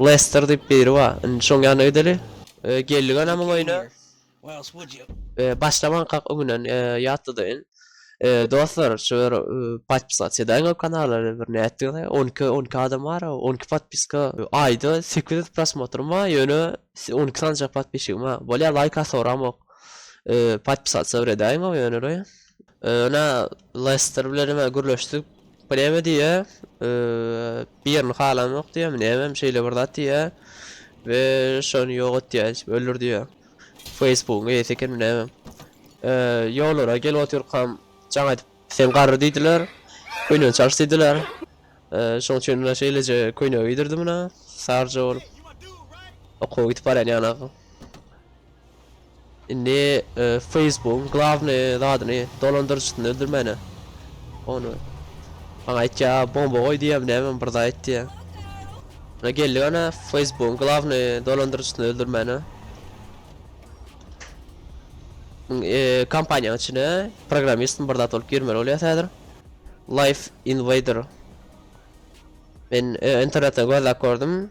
Lester diýip biri bar. Indi şoň ýanyna gideli. Geldik ana muň öýüne. Başlamankak öňünden ýatladayyn. Dostlar şu bir podpisat edäýiň ol kanala bir nätdigiňizi. On iki on iki adam bar on iki podpiska aýda sekiz ýüz prosmotr bar ýöne on iki sanyja podpisgim bar. Bolýa laýka soragym ýok. Podpisat edäýiň ýöne. Öne Leicester bilen hem gürleşdik. Preme diye birini halam yok diye mi hem şeyle bir zat diye ve şonu yok et diye öldür diye Facebook'un eýesi eken ne hem yollara gel otur kam can edip sen garry diýdiler köýnen çalyş diýdiler şoň üçin mine şeýleje köýne giydirdim mine sarja bolup okuwa gidip barýan ýana Indi Facebookyň glavny zadyny dolandyryjysyny öldürmäne. Ony. Maňa aýtýa bomba goý diýýäm näme bir zat aýtdy. Buna geldi gana Facebookyň glavny dolandyryjysyny öldürmäne. E, kompaniýanyň içine programmistin bir zat bolup girmeli bolýar häzir. Life Invader. Men e, internetden gözläp gördüm.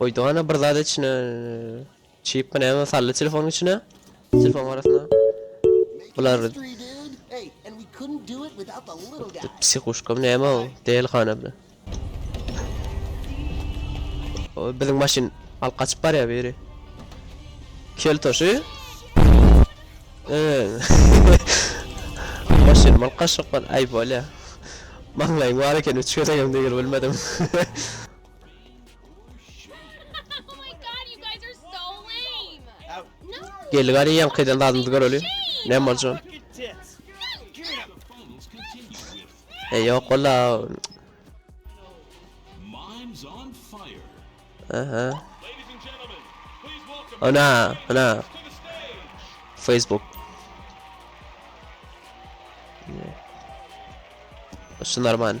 Goýdy gana bir zat içine. Çip mi näme saldy telefonyň içine. Telefon arasynda. Bular psihuşka mi näme o? Del gana bile. O biziň maşyn alyp gaçyp barýar biri. Kel toşy. Eee. Maşyn mal kaşyklar ay bolýar. Maňlaýyň bar eken, üç gezegem degil bilmedim. Geldi gari yan kaydan dadımız göreli. Ne borcun? E yok ola. Aha. Ana, ana. Facebook. Şunlar man.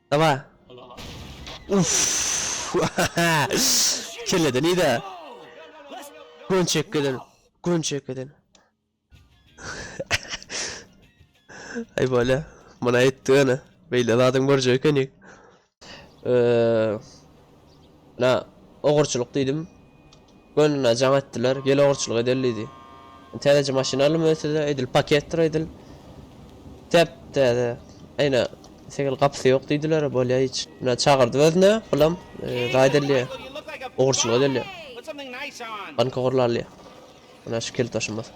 Dawa. Uff. Kelleden ida. Gun çekkeden. Gun çekkeden. Ay böyle. Bana etti ana. Böyle zaten borcu yok hani. Eee. Ine, ogurçylyk diýdim. Gönüne jaň etdiler. Gel ogurçylyk edeli diýdi. Täzeje maşyn aldym öýtse-de, edil paketdir edil. Täp-täze. Ine, segil gapysy ýok diýdiler, bolýa hiç. Ine, çagyrdy özüne, bulam zaýat edilýä. Ogurçylyk edilýä. Banka gurlalýa. Ine, şu kilit daşymyz.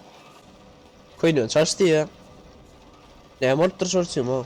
Köýnegini çalyş diýýä. Näme bolupdyr şol üçin o?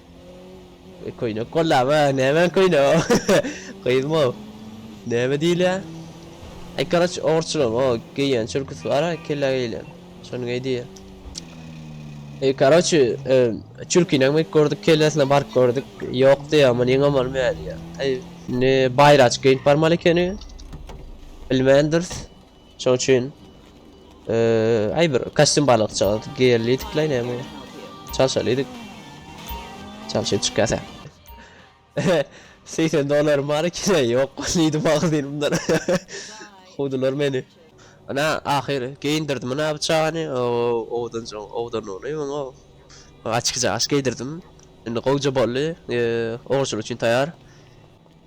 E, köýnek gollama, näme köýne? Gyzym o. Näme diýilýä? Ay karaç orçulam o geýen çürküsi bar ha kelle geýlen. Şony geý diýe. E karaç e, çürkini hem gördük kellesine baryp gördük. Ýok diýe ama neň amal meýär diýe. Ay ne bayraç geýip barmaly ekeni. Bilmändiris. Şoň üçin eee, aý bir kostyum balykçyga geýerlidik la näme? Çalşalydyk. Çalşyp çykýasa. Seýsen dollarym bar ekine, ýok diýdi magazynymdan. Kowdular meni. Ana, ahyry geýindirdim ana bu çagany, owdanjygyň owdanlygyny muňa. Açyk jaş geýdirdim. Indi gowja boldy, eee, ogurçylyk üçin taýar.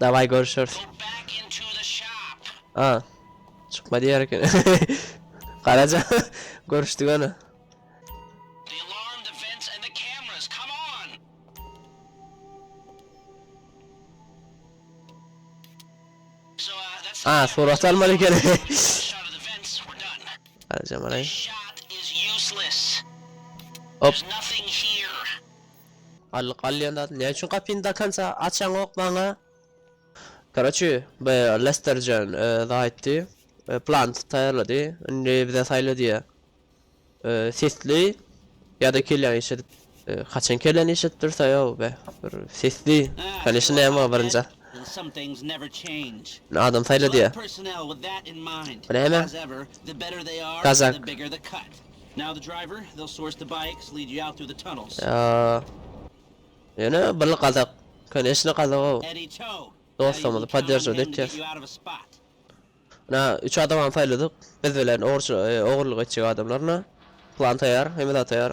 Daway görüşeris. A. Çykma diýer eken. Garaja. Görüşdik ana. A, surat almaly eken. Garaja malay. Hop. Allyk alýan zat näme üçin gapyny dokonca açaňok maňa. Koroçi bu Lesterjan özi aýtdy plan taýýarlady indi bize saýla diýýär sesli ýada kelýäňi işedip haçan kelläni işedip dursa ýow be bir sesli kanyşa näme bar birinja adam saýla diýýär näme kazak Ýöne bir gazak koneçne gazagow dostlarymyzy podderžat etýäs. Muna üç adamam saýladyk biz bilen ogurçylyk ogurlyk etjek adamlar muna plan taýar hemme zat taýar.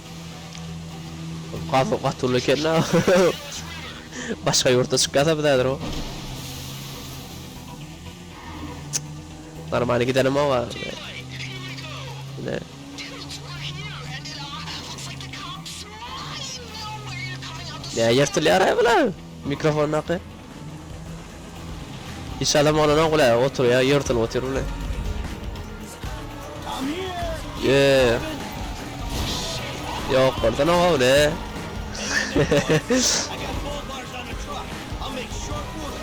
Gafa gaty uly eken da. Başga ýurtda çykýasa biz häzir o. Normalny gidenim o var. Ne? Ne yırtılıyor ay bula? Mikrofon nakı? Hiç adam olanok bile oturýa ýyrtylyp otyr bile. Eee. Ýok boldan oga bile.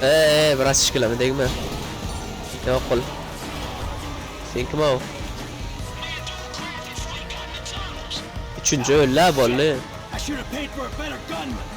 Eee biraz şikileme degme. Ýok bol. Sen kim o? Üçünji öllä bolly.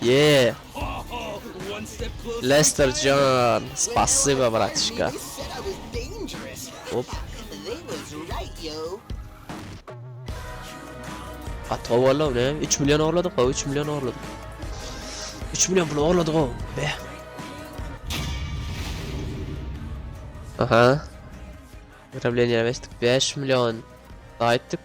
Ýee. Lester jan, spasiba bratişka. Hop. Gaty gowy boldy ow, näme? 3 million orladyk gow, 3 million orladyk. 3 million pul orladyk gow. Be. Aha. Wyroblenýä besdik 5 million. Gaýtdyk.